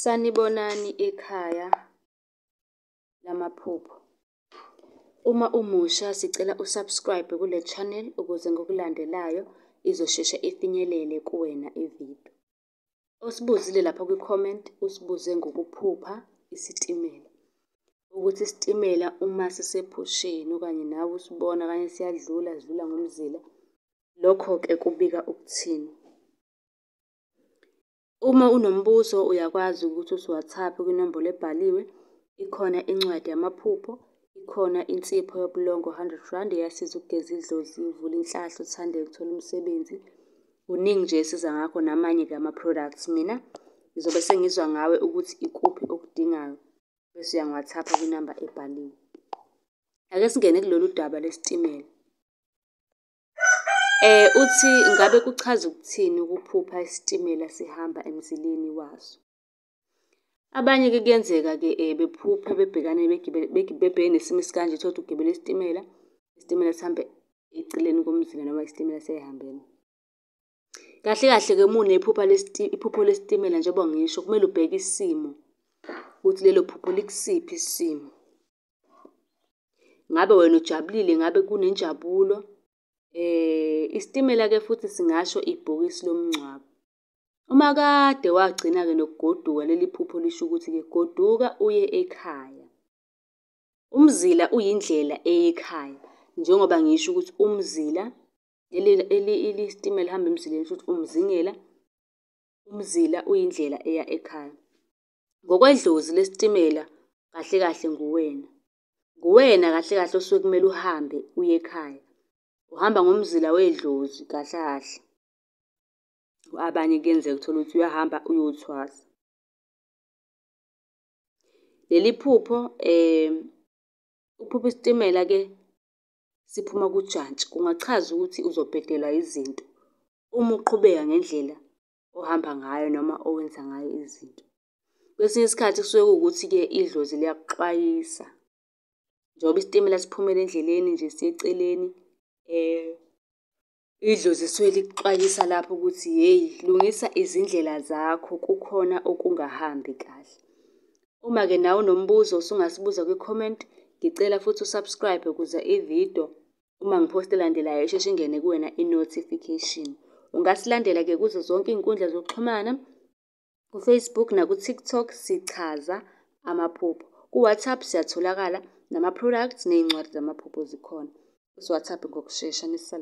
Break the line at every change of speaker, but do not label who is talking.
Sanibonani ekhaya lamaphupho. Uma umusha sicela u-subscribe kule channel ukuze ngokulandelayo izosheshe ifinyelele kuwena ividiyo. Osibuzile lapha kwi-comment usibuze ngokuphupha isitimela. Ukuthi isitimela uma sisephusheni okanye nawe usibona okanye siyadlula sidlula ngomzila, lokho-ke kubika ukuthini? Uma unombuzo uyakwazi ukuthi usiWhatsApp kwinombolo ebhaliwe, ikhona incwadi yamaphupho, ikhona insipho yobulongo 100 rand eyasiza ukugeza idlozi, uvule inhlahla, uthande ukuthola umsebenzi. Kuningi nje esiza ngakho namanye-ke ama-products. Mina ngizobe sengizwa ngawe ukuthi ikuphi okudingayo bese uyangi-WhatsApp kwinamba ebhaliwe. Ake singene kulolu daba lesitimela. Eh uthi ngabe kuchaza ukuthini ukuphupha isitimela sihamba emzileni waso. Abanye ke kuyenzeka ke eh, bephuphe bebhekane bebhekene nesimo esikanje thola ugibele isitimela, isitimela sihambe eceleni komzila noma isitimela seyihambela. Kahle kahle-ke uma unephupha iphupho lesitimela njengoba ngisho, kumele ubheke isimo ukuthi lelo phupho likusiphi isimo. Ngabe wena ujabulile, ngabe kunenjabulo. Isitimela-ke futhi singasho ibhokisi lomngcwabo. Uma kade wagcina-ke nokugoduka leli phupho lisho ukuthi-ke goduka uye ekhaya. Umzila uyindlela eyekhaya njengoba ngisho ukuthi umzila Isitimela elihamba emzileni shuthi umzingela, umzila uyindlela eya ekhaya. Ngokwedlozi lesitimela kahle kahle nguwena. Nguwena kahle kahle osuke kumele uhambe uye ekhaya. Uhamba ngomzila wedlozi kahle kahle. Abanye kuyenzeka uthole ukuthi uyahamba uyothwasa. Leli phupho, ukuphupha isitimela-ke siphuma kujantshi kungachaza ukuthi uzobhedelwa izinto uma uqhubeka ngendlela ohamba ngayo noma owenza ngayo izinto. Kwesinye isikhathi kusuke kuwukuthi-ke idlozi liyakuxwayisa njengoba isitimela siphumela endleleni nje siye eceleni um Idlozi lisuke likuxwayisa lapho ukuthi hheyi lungisa izindlela zakho kukhona okungahambi kahle. Uma-ke nawe unombuzo usungasibuza kwi-comment. Ngicela futhi u-subscribe ukuze ividiyo uma ngiphosta elandelayo isheshe ingene kuwena i-notification. Ungasilandela-ke kuzo zonke iy'nkundla zokuxhumana KuFacebook nakuTikTok sichaza amaphupho. KuWhatsApp siyatholakala nama-products ney'ncwadi zamaphupho zikhona. UsiWhatsApp ngokushesha nisal.